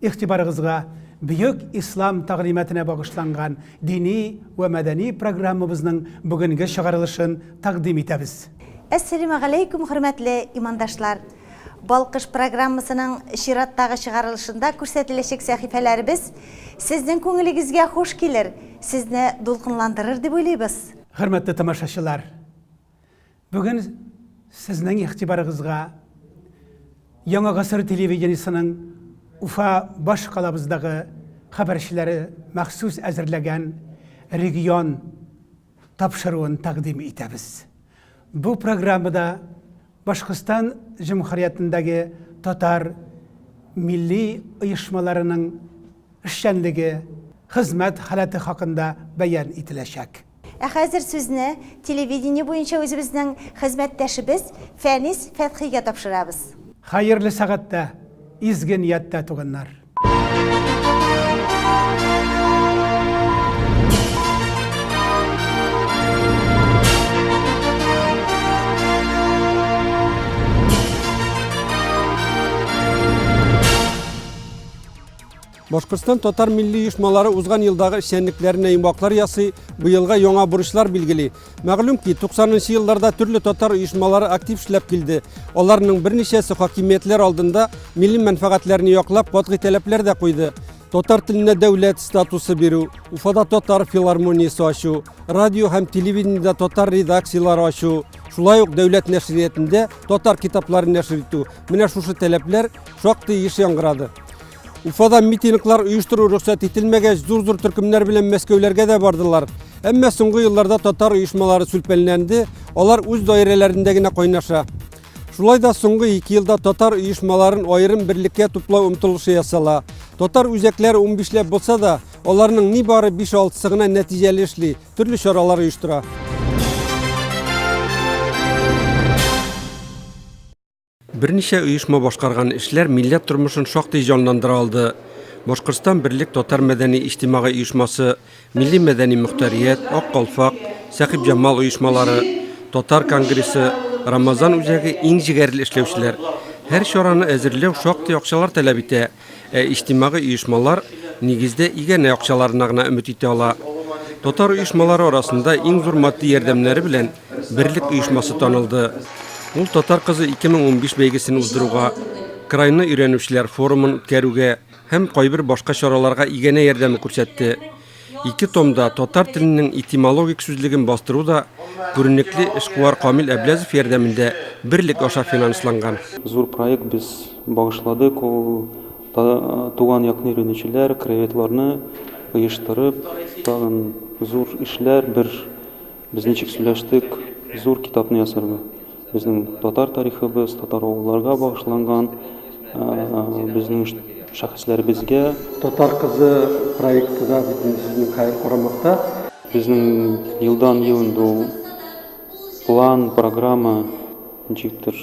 Игътибарыгызга бөек Ислам тәгълиматына багышланган дини вә мәдәни программабызның бүгенге чыгарылышын тәкъдим итәбез. Әссәлимәгаләйкүм хөрмәтле имандашлар! Балкыш программасының чираттагы чыгарылышында күрсәтеләчәк сәхифәләребез сезнең күңелегезгә хуш килер, сезне дулкынландырыр дип уйлыйбыз. Хөрмәтле тамашачылар! Бүген сезнең игътибарыгызга Яңа гасыр телевидениесенең Уфа башкалабыздагы хәбәрчеләре махсус әзерләгән регион тапшыруын тәкъдим итәбез. Бу программада Башкортстан Җөмһүриятендәге татар милли оешмаларының эшчәнлеге, хезмәт халәте хакында бәян ителәчәк. Ә хәзер сүзне телевидение буенча үзебезнең хезмәттәшебез Фәнис Фәтхигә тапшырабыз. Хәерле сәгатьтә, изге нияттә туганнар! Башкортстан татар милли оешмалары узган елдагы эшчәнлекләренә йомгаклар ясый, быелга яңа бурычлар билгели. Мәгълүм ки, 90 елларда төрле татар оешмалары актив эшләп килде. Аларның берничәсе хакимиятләр алдында милли мәнфәгатьләрне яклап катгый таләпләр дә куйды. Татар теленә дәүләт статусы бирү, Уфада татар филармониясе ачу, радио һәм телевидениедә татар редакцияләре ачу, шулай ук дәүләт нәшриятендә татар китапларын нәшер итү. Менә шушы таләпләр шактый еш яңгырады. Уфада митинглар оештыру рөхсәт ителмәгәч, зур-зур төркемнәр белән Мәскәүләргә дә бардылар. Әмма соңгы елларда татар оешмалары сүлпәнләнде, алар үз даирәләрендә генә кайнаша. Шулай да соңгы ике елда татар оешмаларын аерым берлеккә туплау омтылышы ясала. Татар үзәкләре 15 ләп булса да, аларның ни бары 5-6 гына нәтиҗәле эшли, төрле чаралар оештыра. Берничә оешма башкарган эшләр милләт тормышын шактый җанландыра алды. Башкортстан берлек татар мәдәни-иҗтимагый оешмасы, милли-мәдәни мөхтәрият, Ак калфак, Сәхибҗамал оешмалары, Татар конгрессы, Рамазан үзәге иң җегәрле эшләүчеләр. Һәр чараны әзерләү шактый акчалар таләп итә. Ә иҗтимагый оешмалар, нигездә, иганә акчаларына гына өмет итә ала. Татар оешмалары арасында иң зур матди ярдәмнәре белән Берлек оешмасы танылды. Ул Татар кызы 2015 бәйгесен уздыруга, крайны өйрәнүчеләр форумын үткәрүгә һәм кайбер башка чараларга иганә ярдәме күрсәтте. Ике томда татар теленең этимологик сүзлеген бастыру да күренекле эшкуар Камил Әбләзов ярдәмендә берлек аша финансланган. Зур проект без багышладык, ул туган якны өйрәнүчеләр, краеведларны оештырып, тагын зур эшләр, бер Без ничек сөйләштек зур китапны ясарга? Безнең татар тарихыбыз, татар авылларга багышланган, безнең шәхесләребезгә. Татар кызы проекты да бит инде сезнең хәер карамакта. Безнең елдан-ел инде ул план, программа ничектер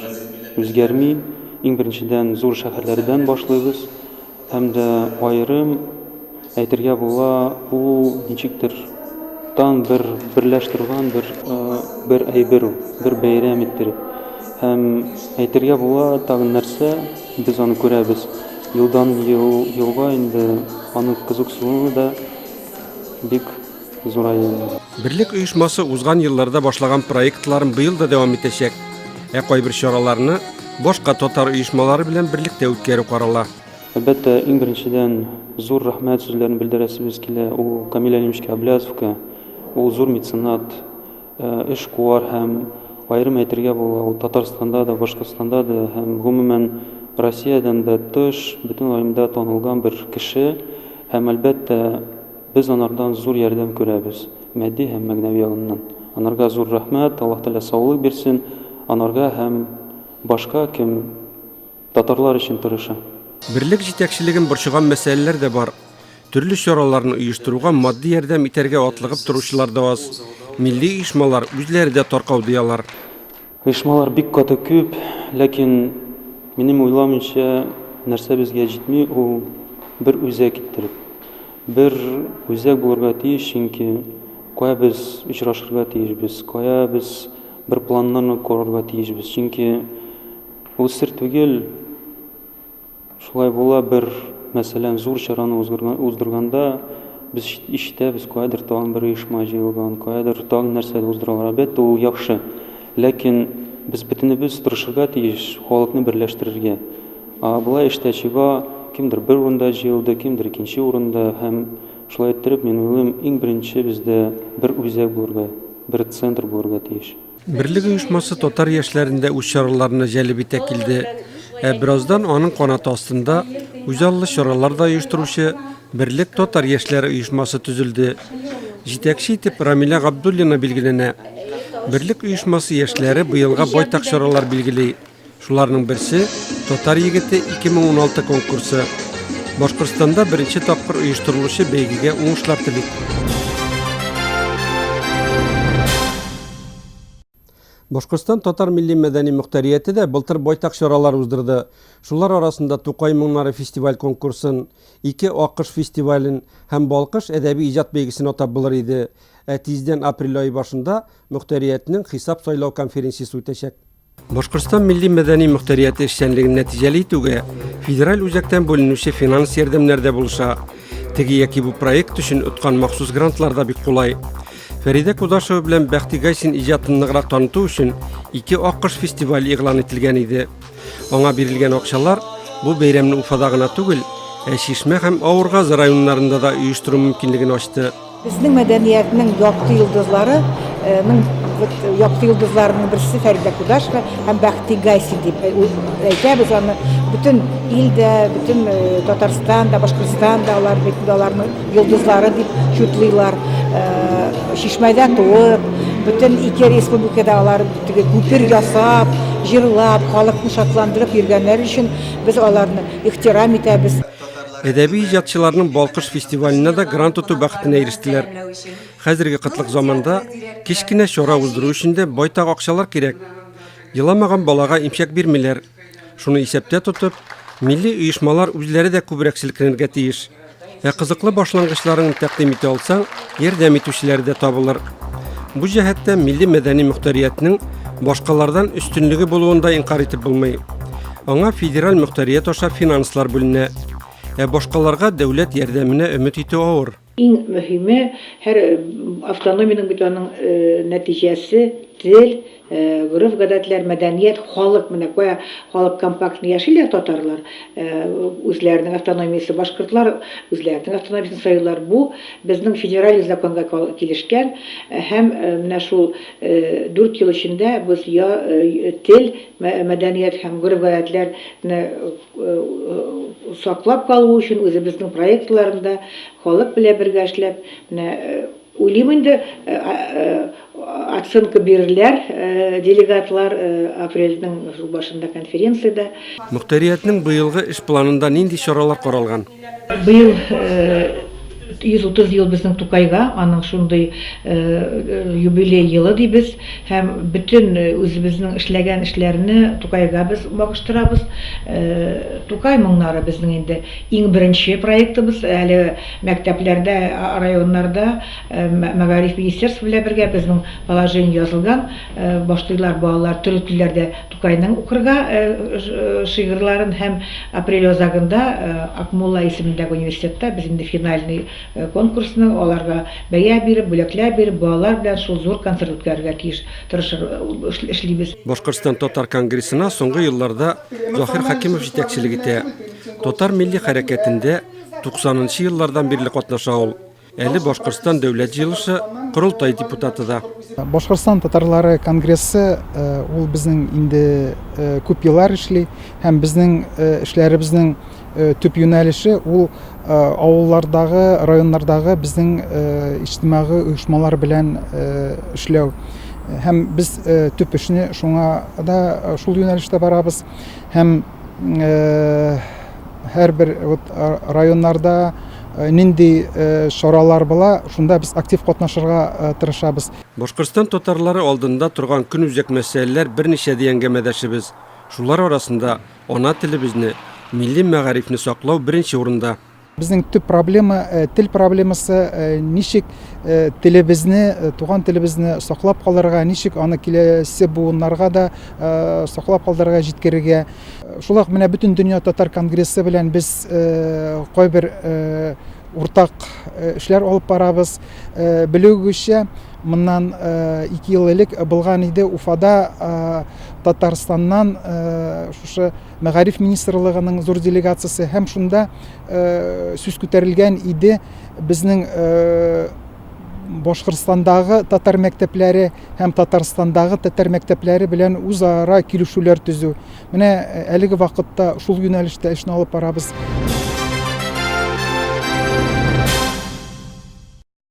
үзгәрми. Иң беренчедән зур шәһәрләрдән башлыйбыз. Һәм дә аерым әйтергә була, ул ничектер тан бер берләштерүгән бер бер әйбер ул, бер бәйрәм иттереп. Һәм әйтергә була, тагын нәрсә, без аны күрәбез. Елдан ел елга инде аның кызыксынуы да бик зураеннар. Берлек оешмасы узган елларда башлаган проектларын быел да дәвам итәчәк. Ә кайбер чараларны башка татар оешмалары белән берлектә үткәрү карала. Әлбәттә, иң беренчедән зур рәхмәт сүзләрен белдерәсебез килә ул Камил Әлимович Әблязовка. Ул зур меценат, эшкуар һәм, аерым әйтергә була, ул Татарстанда да, Башкортстанда да һәм, гомумән, Россиядән дә тыш, бөтен районда танылган бер кеше. Һәм, әлбәттә, Без анардан зур ярдәм күрәбез, матди һәм мәгнәви ягыннан. Анарга зур рәхмәт, Аллаһ Тәгалә саулык бирсен, анарга һәм башка кем татарлар өчен тырыша. Берлек җитәкчелеген борчыган мәсьәләләр дә бар. Төрле чараларны оештыруга матди ярдәм итәргә атлыгып торучылар да аз. Милли оешмалар үзләре дә таркау, ди алар. Оешмалар бик каты күп, ләкин, минем уйламыйча, нәрсә безгә җитми, ул бер үзәк иттереп. Бер үзәк булырга тиеш, чөнки кая без очрашырга тиешбез, кая без бер планнарны корырга тиешбез, чөнки ул сер түгел, Шулай була, бер, мәсәлән, зур чараны узгырган, уздырганда, без ишт, ишетәбез, каядыр тагын бер оешма җыелган, каядыр тагын нәрсәдер уздыралар. Әлбәттә, ул яхшы. Ләкин без бөтенебез тырышырга тиеш халыкны берләштерергә. Ә болай эштә чиба, кемдер бер урында җыелды, кемдер икенче урында, һәм шулай иттереп, мин уйлыйм, иң беренче бездә бер үзәк булырга, бер центр булырга тиеш. Берлек оешмасы татар яшьләрен дә үз чараларына җәлеп итә килде. Ә бераздан аның канаты астында үзаллы чаралар да оештыручы Берлек татар яшьләре оешмасы төзелде. Җитәкче итеп Рамилә Габдуллина билгеләнә. Берлек оешмасы яшьләре быелга байтак чаралар билгели. Шуларның берсе, Татар егете 2016 конкурсы. Башкортстанда беренче тапкыр оештырылучы бәйгегә уңышлар телик. Башкортстан татар милли мәдәни мөхтәрияте дә былтыр байтак чаралар уздырды. Шулар арасында Тукай моңнары фестиваль конкурсын, Ике акыш фестивален һәм Балкыш әдәби иҗат бәйгесен атап булыр иде. Ә тиздән апрель ае башында мөхтәриятнең хисап сайлау конференциясе үтәчәк. Башкортстан милли-мәдәни мөхтәрияте эшчәнлеген нәтиҗәле итүгә федераль үзәктән бүленүче финанс ярдәмнәр дә булыша. Теге яки бу проект өчен откан махсус грантлар да бик кулай. Фәридә Кудашева белән Бәхти Гайсин иҗатын ныграк таныту өчен ике аккош фестиваль игълан ителгән иде. Аңа бирелгән акчалар бу бәйрәмне Уфада гына түгел, ә Чишмә һәм Авыргазы районнарында да оештыру мөмкинлеген ачты. Безнең мәдәниятнең якты йолдызлары, ның вот якты йолдызларының берсе Фәридә Кудашева һәм Бәхти Гайсин дип әйтәбез аны. Бөтен ил дә, бөтен Татарстан да, Башкортстан да алар бит аларның йолдызлары дип чутлыйлар. Чишмәдә туып, бөтен ике республикада алар теге күпер ясап, җырлап, халыкны шатландырып йөргәннәре өчен без аларны ихтирам итәбез. Әдәби иҗатчыларның Балкыш фестиваленә да грант тоту бәхетенә ирештеләр. Хәзерге кытлык заманда кечкенә чара уздыру өчен дә байтак акчалар кирәк. Еламаган балага имчәк бирмиләр. Шуны исәптә тотып, милли оешмалар үзләре дә күбрәк селкенергә тиеш. Ә кызыклы башлангычларын тәкъдим итә алсаң, ярдәм итүчеләре дә табылыр. Бу җәһәттә милли мәдәни мөхтәриятнең башкалардан өстенлеге булуын да инкарь итеп булмый. Аңа федераль мөхтәрият аша финанслар бүленә. Ә башкаларга дәүләт ярдәменә өмет итү авыр. Иң мөһиме, һәр автономиянең бит аның нәтиҗәсе, тел, гореф-гадәтләр, мәдәният, халык. Менә кая халык компактный яшиләр, татарлар, үзләренең автономиясе, башкортлар үзләренең автономиясен сайлыйлар. Бу безнең федераль законга килешкән һәм менә шул дүрт ел эчендә без я тел, Мәдәният һәм гореф-гадәтләр не саклап калу өчен үзебезнең проектларында халык белән бергә эшләп не уйлыйм инде оценка бирерләр делегатлар апрельнең шул башында конференциядә. Мөхтәриятнең быелгы эш планында нинди чаралар каралган? Быел 130 ел безнең Тукайга, аның шундый юбилей елы дибез һәм бөтен үзебезнең эшләгән эшләрне Тукайга без багыштырабыз. Тукай моңнары безнең инде иң беренче проектыбыз. Әле мәктәпләрдә, районнарда мәгариф министерство белән бергә безнең положение язылган. Башлыйлар балалар төрек телләрдә Тукайның укырга шигырьларын һәм апрель азагында Акмулла исемендәге университетта без инде финальный конкурсны, аларга бәя биреп, бүләкләр биреп, балалар белән шул зур концерт үткәрергә тиеш, тырышыр, эшлибез. Башкортстан татар конгрессына соңгы елларда Заһир Хәкимов җитәкчелек итә. Татар милли хәрәкәтендә 90 нчы еллардан бирле катнаша ул. Әле Башкортстан Дәүләт җыелышы, Корылтай депутаты да. Башкортстан татарлары конгрессы э, ул безнең инде э, күп еллар эшли һәм безнең э, эшләребезнең төп юнәлеше ул авыллардагы, районнардагы безнең иҗтимагый оешмалар белән эшләү. Һәм без төп эшне шуңа да шул юнәлештә барабыз һәм һәрбер вот районнарда нинди чаралар була, шунда без актив катнашырга тырышабыз. Башкортстан татарлары алдында торган көнүзәк мәсьәләләр берничә, ди әңгәмәдәшебез. Шулар арасында ана телебезне, милли мәгарифне саклау беренче урында. Безнең төп проблема тел проблемасы, ничек телебезне, туган телебезне саклап калырга, ничек аны киләсе буыннарга да саклап калдырырга, җиткерергә. Шулай ук менә бөтен дөнья татар конгрессы белән без кайбер уртак эшләр алып барабыз. Белүегезчә, моннан ике ел элек булган иде Уфада Татарстаннан шушы мәгариф министрлыгының зур делегациясе һәм шунда сүз күтәрелгән иде безнең башкортстандагы татар мәктәпләре һәм татарстандагы татар мәктәпләре белән үзара килешүләр төзү менә әлеге вакытта шул юнәлештә эшне алып барабыз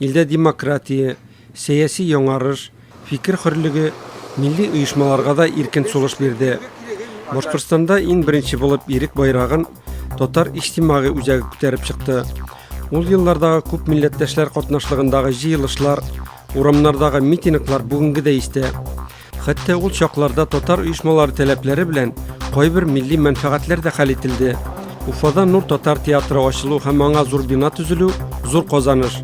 Илдә демократия, сәяси яңарыш, фикер хөрлеге милли оешмаларга да иркен сулыш бирде. Башкортстанда иң беренче булып Ирек байрагын татар иҗтимагый үзәге күтәреп чыкты. Ул еллардагы күп милләттәшләр катнашлыгындагы җыелышлар, урамнардагы митинглар бүгенге дә истә. Хәтта ул чакларда татар оешмалары таләпләре белән кайбер милли мәнфәгатьләр дә хәл ителде. Уфада Нур татар театры ачылу һәм аңа зур бина төзелү зур казаныш.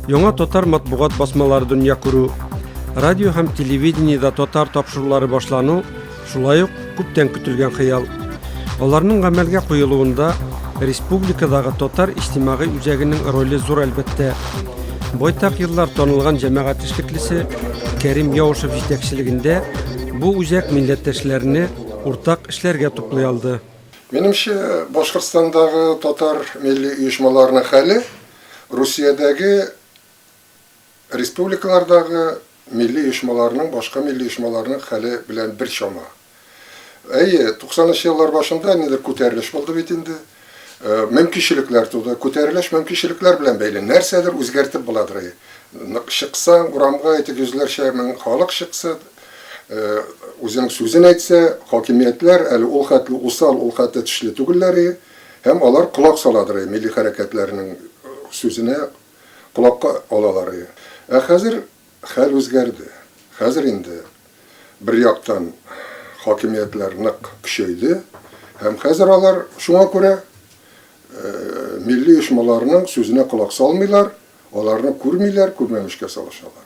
Яңа татар матбугат басмалары дөнья күрү, радио һәм телевидениедә татар тапшырулары башлану, шулай ук Күптән көтелгән хыял. Аларның гамәлгә куелуында республикадагы татар иҗтимагый үзәгенең роле зур әлбәттә. Байтак еллар танылган җәмәгать эшлеклесе Кәрим Яушев җитәкчелегендә бу үзәк милләттәшләрне уртак эшләргә туплый алды. Минемчә, Башкортстандагы татар милли оешмаларының хәле Русиядәге, Республикалардагы милли оешмаларның башка милли оешмаларның хәле белән бер чама. Әйе, туксанынчы еллар башында нидер күтәрелеш булды бит инде. Мөмкинчелекләр туды. Күтәрелеш мөмкинчелекләр белән бәйле. Нәрсәдер үзгәртеп буладыр. Нык чыкса, урамга әйтик, йөзләрчә мең халык чыкса, үзенең сүзен әйтсә, хакимиятләр әле ул хәтле усал, ул хәтле тешле түгелләр и, һәм алар колак саладыр и милли хәрәкәтләрнең сүзенә, колакка алалар иде. Ә хәзер хәл үзгәрде. Хәзер инде, бер яктан, хакимиятләр нык көчәйде һәм хәзер алар шуңа күрә милли оешмаларның сүзенә колак салмыйлар, аларны күрмиләр, күрмәмешкә салышалар.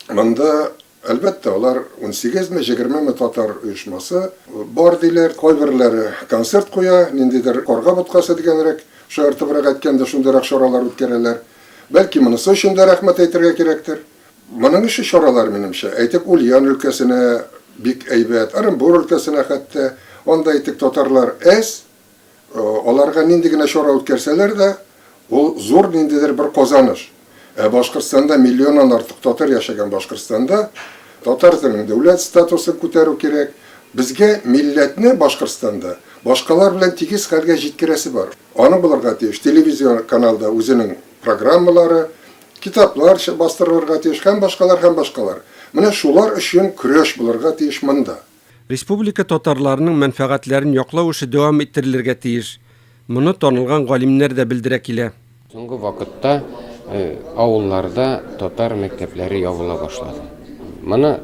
Монда Әлбәттә, алар унсигезме, җегермеме татар оешмасы бар, диләр. Кайберләре концерт куя, ниндидер карга боткасы дигәнрәк, шаяртыбрак әйткәндә, шундыйрак чаралар үткәрәләр. Бәлки, монысы өчен дә рәхмәт әйтергә кирәктер. Моның ише чаралар, минемчә, әйтик, Ульян өлкәсенә бик әйбәт, Ырынбур өлкәсенә хәтта, анда, әйтик, татарлар әз, Аларга нинди генә чара үткәрсәләр дә, ул зур ниндидер бер казаныш. Ә Башкортстанда, миллионнан артык татар яшәгән Башкортстанда татар теленең дәүләт статусын күтәрү кирәк. Безгә милләтне Башкортстанда башкалар белән тигез хәлгә җиткерәсе бар. Аны булырга тиеш. Телевизион каналда үзенең программалары, китаплар бастырылырга тиеш һәм башкалар, һәм башкалар. Менә шулар өчен көрәш булырга тиеш монда. Республика татарларының мәнфәгатьләрен яклау эше дәвам иттерелергә тиеш. Моны танылган галимнәр дә белдерә килә. Соңгы вакытта авылларда татар мәктәпләре ябыла башлады. Моны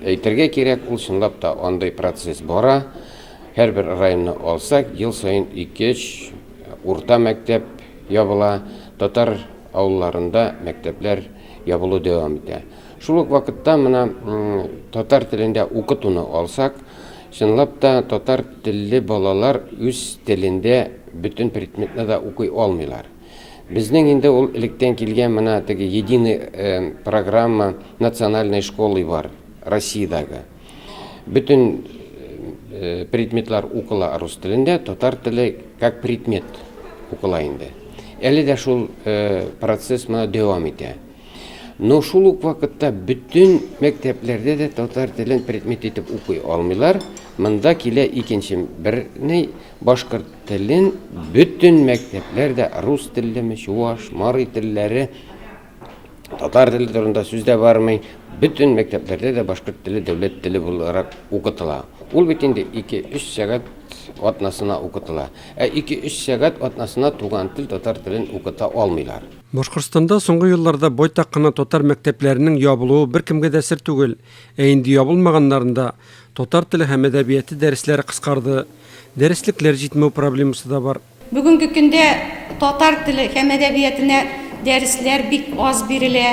әйтергә кирәк, ул чынлап та андый процесс бара. Һәрбер районны алсак, ел саен ике-өч урта мәктәп ябыла. Татар авылларында мәктәпләр ябылу дәвам итә. Шул ук вакытта менә татар телендә укытуны алсак, чынлап та татар телле балалар үз телендә бөтен предметны да укый алмыйлар. Безнең инде ул электән килгән менә теге единый программа национальной школы бар Россиядәге. Бөтен предметлар укыла рус телендә, татар теле как предмет укыла инде. Әле дә шул процесс менә дәвам итә. Но шул ук вакытта бөтен мәктәпләрдә дә татар телен предмет итеп укый алмыйлар. Монда килә икенче бер ни, башкорт телен бөтен мәктәпләр дә рус теллеме, чуваш, марий телләре, татар теле турында сүз дә бармый, бөтен мәктәпләрдә дә башкорт теле дәүләт теле буларак укытыла. Ул бит инде 2-3 сәгать атнасына укытыла. Ә 2-3 сәгать атнасына туган тел татар телен укыта алмыйлар. Башкортстанда соңгы елларда байтак кына татар мәктәпләренең ябылуы беркемгә дә сер түгел. Ә инде ябылмаганнарында татар теле һәм әдәбияты дәресләре кыскарды, дәреслекләр җитмәү проблемасы да бар. Бүгенге көндә татар теле һәм әдәбиятына дәресләр бик аз бирелә.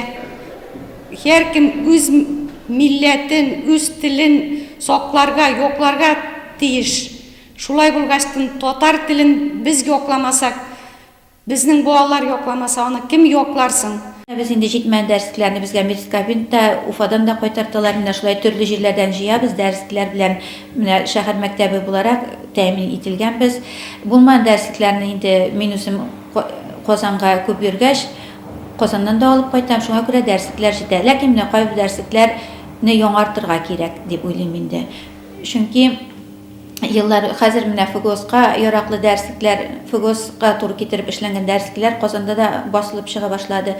Һәркем үз милләтен, үз телен сакларга, якларга тиеш. Шулай булгач, татар телен без якламасак, Безнең балалар якламаса аны кем яклар соң? Без инде җитмәгән дәресләрне безгә Мирскабинт та, Уфадан да кайтарталар. Менә шулай төрле җирләрдән җыябыз, дәресләр белән менә шәһәр мәктәбе буларак тәэмин ителгәнбез. Булмаган дәреслекләрне инде мин үзем Казанга күп йөргәч, Казаннан да алып кайтам, шуңа күрә дәреслекләр җитә. Ләкин менә кайбер дәреслекләрне яңартырга кирәк дип уйлыйм инде. Чөнки. еллар хәзер менә ФГОСка яраклы дәреслекләр, ФГОСка туры китереп эшләнгән дәреслекләр Казанда да басылып чыга башлады.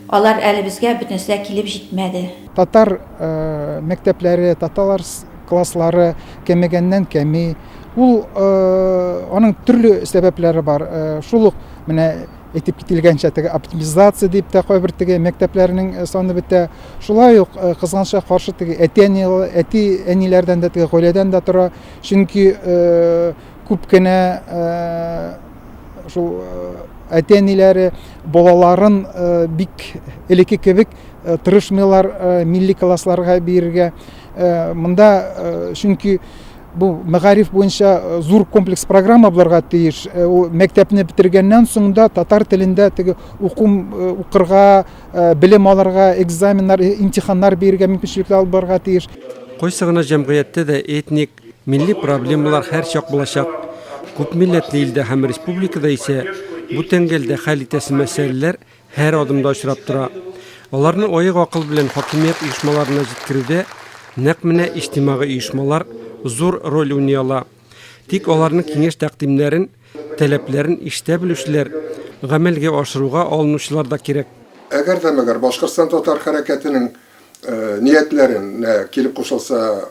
Алар әле безгә бөтенесе дә килеп җитмәде. Татар мәктәпләре, таталар класслары кәмегәннән кәми. Ул аның төрле сәбәпләре бар. Шул ук менә әйтеп кителгәнчә теге оптимизация дип тә кайбер теге мәктәпләрнең э, саны бетә шулай ук э, кызганычка каршы теге әти әни әти әниләрдән дә теге гаиләдән дә тора чөнки э, күп кенә шул әти әниләре балаларын бик элекке кебек тырышмыйлар милли классларга бирергә монда чөнки Бу мәгариф буенча зур комплекс программа булырга тиеш. Ул мәктәпне бетергәннән соң да татар телендә теге уку укырга, белем алырга, экзаменнар, имтиханнар бирергә мөмкинчелекләр алып барырга тиеш. Кайсы гына җәмгыятьтә дә этник, милли проблемалар һәрчак булачак. Күпмилләтле илдә һәм республикада исә бу тәңгәлдә хәл итәсе мәсьәләләр Һәр адымда очрап тора. Аларны аек акыл белән хакимият оешмаларына җиткерүдә нәкъ менә иҗтимагый оешмалар зур роль уйный ала. Тик аларның киңәш-тәкъдимнәрен, таләпләрен ишетә белүчеләр, гамәлгә ашыруга алынучылар да кирәк. Әгәр дә мәгәр Башкортстан татар хәрәкәтенең ниятләренә килеп кушылса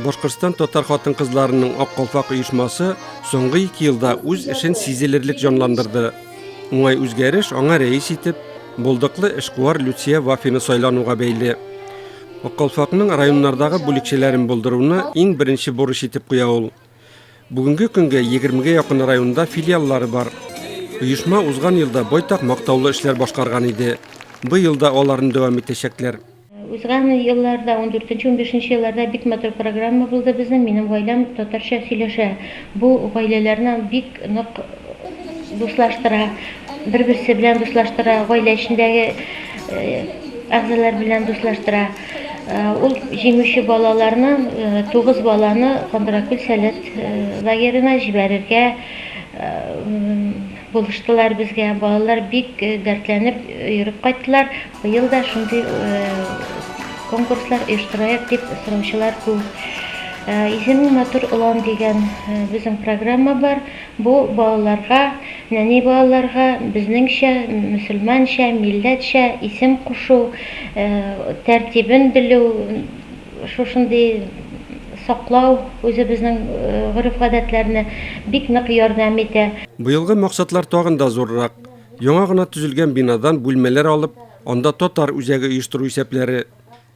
Башкортстан татар хатын-кызларының Ак калфак оешмасы соңгы ике елда үз эшен сизелерлек җанландырды. Уңай үзгәреш аңа рәис итеп булдыклы эшкуар Люция Вафина сайлануга бәйле. Ак калфакның районнардагы бүлекчәләрен булдыруны иң беренче бурыч итеп куя ул. Бүгенге көнгә 20-гә якын районда филиаллары бар. Оешма узган елда байтак мактаулы эшләр башкарган иде. Быел да аларны дәвам итәчәкләр. Узган елларда, ундүртенче, унбишенче елларда бик матур программа булды безнең, Минем гаиләм татарча сөйләшә. Бу гаиләләрне бик нык дуслаштыра, бер-берсе белән дуслаштыра, гаилә эчендәге әгъзалар белән дуслаштыра. Ул җиңүче балаларны, тугыз баланы Кандракүл сәләт лагерена җибәрергә булыштылар безгә. Балалар бик дәртләнеп йөреп кайттылар. Быел да шундый конкурслар оештырайык дип сораучылар күп. Исемең матур олан дигән безнең программа бар. Бу балаларга, нәни балаларга безнеңчә, мөселманча, милләтчә исем кушу тәртибен белү, шушындый саклау үзебезнең гореф-гадәтләрне бик нык ярдәм итә. Быелгы максатлар тагын да зуррак. Яңа гына төзелгән бинадан бүлмәләр алып, анда татар үзәге оештыру исәпләре,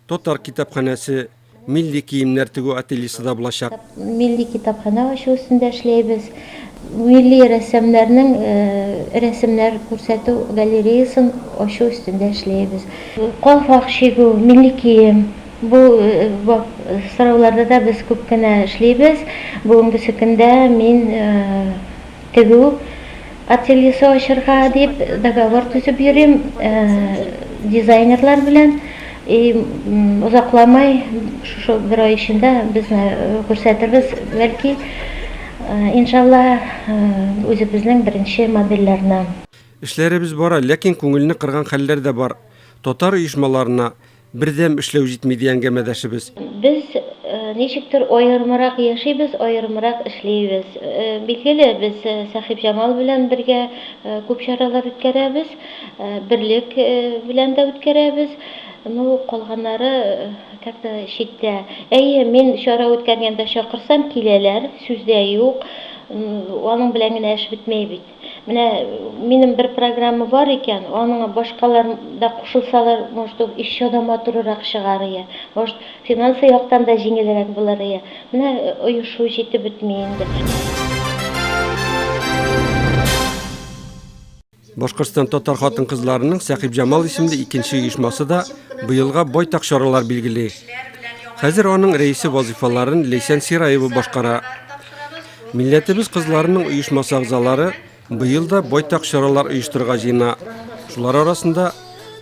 татар китапханәсе, милли киемнәр тегү ательесе да булачак. Милли китапханә ачу өстендә эшләйбез. Милли рәссамнарның рәсемнәр күрсәтү галереясын ачу өстендә эшләйбез. Калфак чигү, милли кием, бу сорауларда да без күп кенә эшлибез. Бүгенгесе көндә мин Тегү ательесе ачырга дип договор төзеп йөрим дизайнерлар белән. И озакламый, шушы бер ай эчендә безне күрсәтербез, бәлки, иншалла, үзебезнең беренче модельләрне. Эшләребез бара, ләкин күңелне кырган хәлләр дә бар. Татар оешмаларына, Бердәм эшләү җитми, ди әңгәмәдәшебез. Без ничектер аерымрак яшибез, аерымрак эшлибез. Билгеле, без Сәхибҗамал белән бергә күп чаралар үткәрәбез, Берлек белән дә үткәрәбез. Ну, калганнары как-то читтә. Әйе, мин чара үткәргәндә чакырсам, киләләр, сүз дә юк. Аның белән генә эш бетмәй бит. Менә минем бер программа бар икән, аның башкалар да кушылсалар, может, ул еще да матурырак чыгар ие. Может, финансы яктан да җиңелрәк булыр ие. Менә оешу җитеп бетми инде. Башкортстан татар хатын-кызларының Сәхиб Җамал исемле икенче оешмасы да быелга байтак чаралар билгели. Хәзер аның рәисе вазифаларын Лейсән Сираева башкара. Милләтебез кызларының оешмасы әгъзалары быел да байтак чаралар оештырырга җыена. Шулар арасында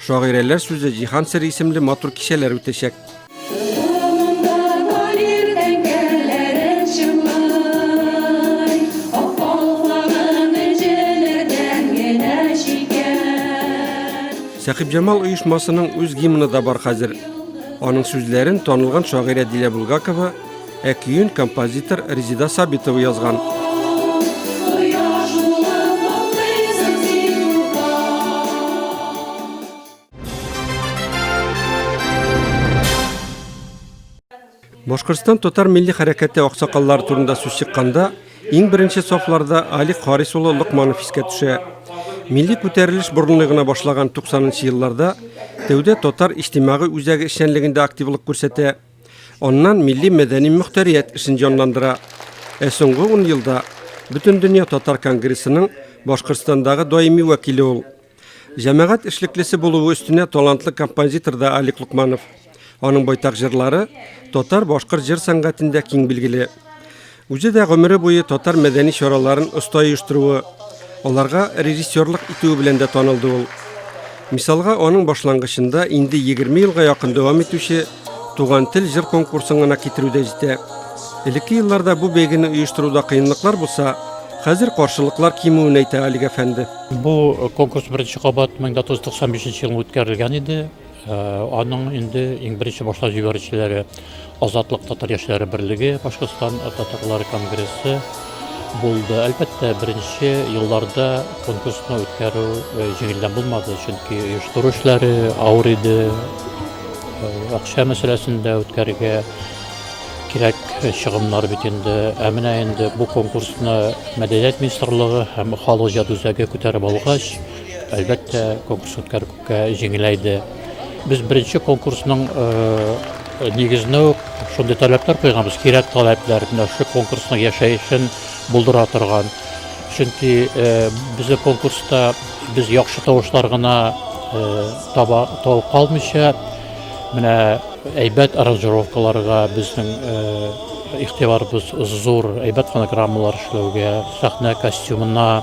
шагыйрәләр сүзе Җиһан сер исемле матур кичәләр үтәчәк. Сәхибҗамал оешмасының үз гимны да бар хәзер. Аның сүзләрен танылган шагыйрә Дилә Булгакова Ә көен композитор Резида Сабитова язган. Башкортстан татар милли хәрәкәте аксакаллар турында сүз чыкканда, иң беренче сафларда Али Харис улы Лыкманов искә төшә. Милли күтәрелеш борынлы гына башлаган 90 нчы елларда тәүдә татар иҗтимагый үзәге эшчәнлегендә активлык күрсәтә, Аннан милли-мәдәни мөхтәрият эшен җанландыра. Ә соңгы ун елда Бөтендөнья татар конгрессының Башкортстандагы даими вәкиле ул. Җәмәгать эшлеклесе булуы өстенә талантлы композитор да Алик Лукманов. Аның байтак җырлары татар-башкорт җыр сәнгатендә киң билгеле. Үзе дә гомере буе татар мәдәни чараларын оста оештыруы, аларга режиссерлык итүе белән дә танылды ул. Мисалга, аның башлангычында инде 20 елга якын дәвам итүче Туган тел җыр конкурсын гына китерү дә җитә. Элекке елларда бу бәйгене оештыруда кыенлыклар булса, хәзер каршылыклар кимүен әйтә Алик әфәнде. Бу конкурс беренче кабат 1995 елында үткәрелгән иде. Аның инде иң беренче башлап җибәрүчеләре Азатлык татар яшьләре берлеге, Башкортстан татарлар конгрессы булды. Әлбәттә, беренче елларда конкурсны үткәрү э, җиңелдән булмады, чөнки оештыру эшләре авыр иде. Э, акча мәсьәләсендә үткәрергә кирәк чыгымнар бит инде. Ә менә инде бу конкурсны мәдәният министрлыгы һәм халык җыр үзәге күтәреп алгач, әлбәттә, конкурс үткәрү Җиңеләйде. Без беренче конкурсның нигезенә үк шундый таләпләр куйганбыз, кирәк таләпләр, менә шул конкурсның яшәешен булдыра торган. Чөнки безнең конкурста без яхшы тавышлар гына таба табып калмыйча, менә әйбәт аранжировкаларга безнең игътибарыбыз зур, әйбәт фонограммалар эшләүгә, сәхнә костюмына,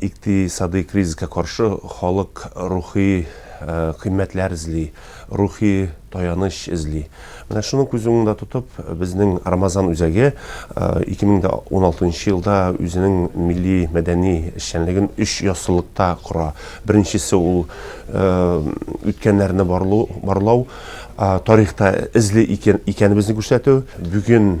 Икътисадый кризиска каршы халык рухи кыйммәтләр эзли, рухи таяныч эзли. Менә шуны күз уңында тотып, безнең Рамазан үзәге 2016 елда үзенең милли-мәдәни эшчәнлеген өч яссылыкта кора. Беренчесе ул үткәннәрне барлау, тарихта эзле икәнебезне күрсәтү. Бүген.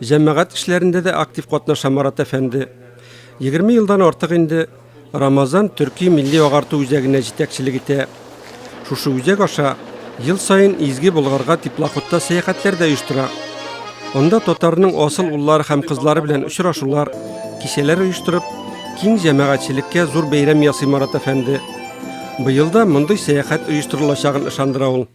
Җәмәгать эшләрендә дә актив катнаша Марат әфәнде. Егерме елдан артык инде Рамазан төрки милли-агарту үзәгенә җитәкчелек итә. Шушы үзәк аша ел саен Изге Болгарга теплоходта сәяхәтләр дә оештыра. Анда татарның асыл уллары һәм кызлары белән очрашулар, кичәләр оештырып, киң җәмәгатьчелеккә зур бәйрәм ясый Марат әфәнде. Быел да мондый сәяхәт оештырылачагын ышандыра ул.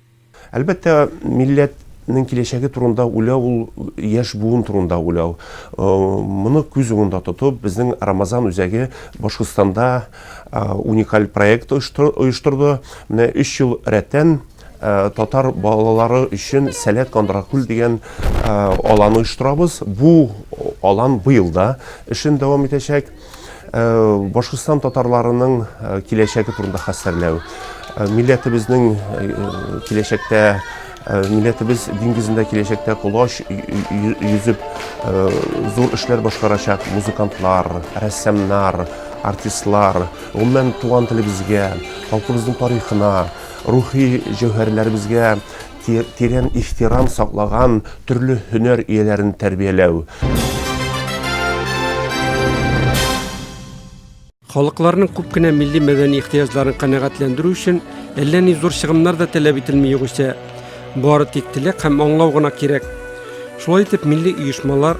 Әлбәттә, милләтнең киләчәге турында уйлау ул яшь буын турында уйлау. Моны күз уңында тотып, безнең Рамазан үзәге Башкортстанда уникаль проект оештырды. Менә өч ел рәттән татар балалары өчен Сәләт Кандракүл дигән алан оештырабыз. Бу алан быел да эшен дәвам итәчәк. Башкортстан татарларының киләчәге турында хәстәрләү. Милләтебезнең киләчәктә, милләтебез диңгезендә киләчәктә колач йөзеп зур эшләр башкарачак музыкантлар, рәссамнар, артистлар, гомумән, туган телебезгә, халкыбызның тарихына, рухи җәүһәрләребезгә тирән ихтирам саклаган төрле һөнәр ияләрен тәрбияләү. Халыкларның күп кенә милли-мәдәни ихтыяҗларын канәгатьләндерү өчен әллә ни зур чыгымнар да таләп ителми югыйсә. Бары тик теләк һәм аңлау гына кирәк. Шулай итеп милли оешмалар,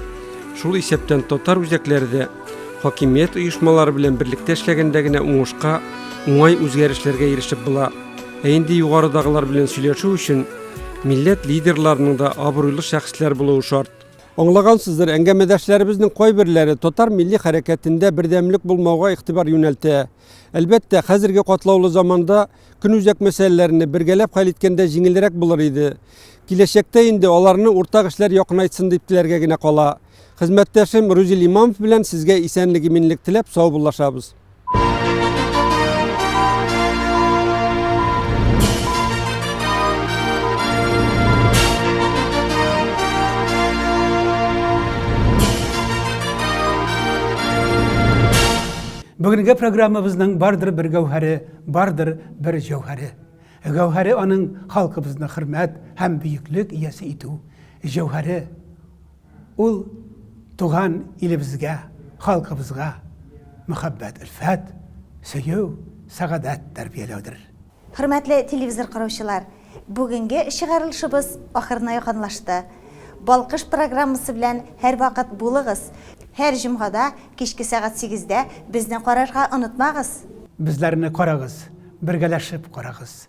шул исәптән татар үзәкләре дә хакимият оешмалары белән берлектә эшләгәндә генә уңышка, уңай үзгәрешләргә ирешеп була. Ә инде югарыдагылар белән сөйләшү өчен милләт лидерларының да абруйлы шәхесләр булуы шарт. Аңлагансыздыр, әңгәмәдәшләребезнең кайберләре татар милли хәрәкәтендә бердәмлек булмауга игътибар юнәлтә. Әлбәттә, хәзерге катлаулы заманда көнүзәк мәсьәләләрне бергәләп хәл иткәндә җиңелрәк булыр иде. Киләчәктә инде аларны уртак эшләр якынайтсын дип теләргә генә кала. Хезмәттәшем Рузил Имамов белән сезгә исәнлек-иминлек теләп саубуллашабыз. Бүгенге программабызның бардыр бер гәүһәре, бардыр бер җәүһәре. Гәүһәре аның халкыбызны хөрмәт һәм бөеклек иясе итү. Җәүһәре Ул туган илебезгә, халкыбызга мәхәббәт, өлфәт, сөю, сәгадәт тәрбияләүдер. Хөрмәтле телевизор караучылар, бүгенге чыгарылышыбыз ахырына якынлашты. Балкыш программасы белән һәрвакыт булыгыз. Һәр җомгада кичке сәгать сигездә безне карарга онытмагыз. Безләрне карагыз, бергәләшеп карагыз.